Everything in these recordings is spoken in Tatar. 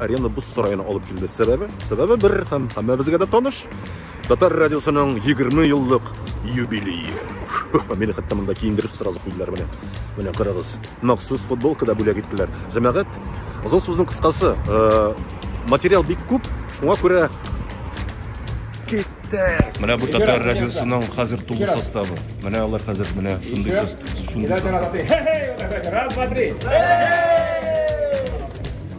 Арена боз сараена алып килде. Сәбәбе? Сәбәбе бер һәм һәммәбезгә дә таныш. Татар радиосының 20 еллык юбилее. Мине хәтта монда киендереп сразу куйдылар менә. Менә карагыз. Махсус футболка да бүләк иттеләр. Җәмәгать, озын сүзнең кыскасы, э, материал бик күп, шуңа күрә китте. Менә бу татар радиосының хәзер тулы составы. Менә алар хәзер менә шундый состав. Раз, два, три.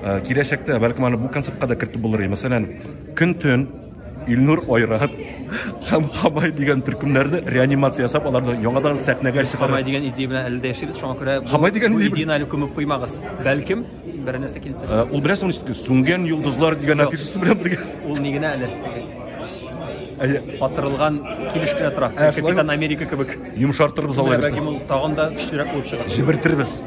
Э, киләчәктә бәлкем аны бу концертка да кертеп булыр мәсәлән көн төн илнур айрат һәм хамай дигән төркемнәрне реанимация ясап аларны яңадан сәхнәгә чыгарып хамай дигән идея белән әле дә яшибез шуңа күрә хамай дигән идеяны әле күмеп куймагыз бәлкем бер нәрсә килеп э, ул беләсеңме ничек сүнгән йолдызлар дигән афишасы белән бергә ул ни генә әле батырылган килеш кенә тора капитан америка кебек йомшартырбыз алай булса тагын да көчлерәк булып чыгар җибертербез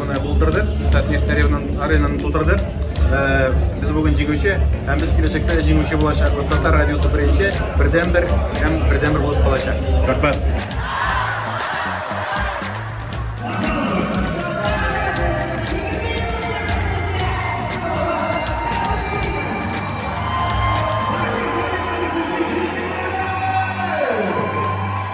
Менә булдырдык, Стат Нестеревнан аренаны тутырдык. Э, без бүген җиңүче, һәм без киләчәктә дә җиңүче булачакбыз. Татар радиосы беренче, бердәнбер һәм бердәнбер булып калачак. Рәхмәт.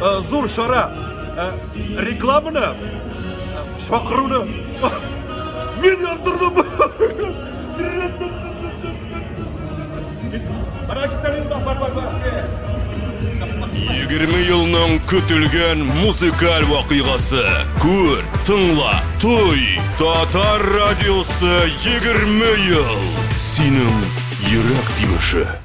э, зур чара э, рекламаны чакыруны мин яздырдым егерме елның көтелгән музыкаль вакыйгасы күр тыңла той татар радиосы егерме ел синең йөрәк тибеше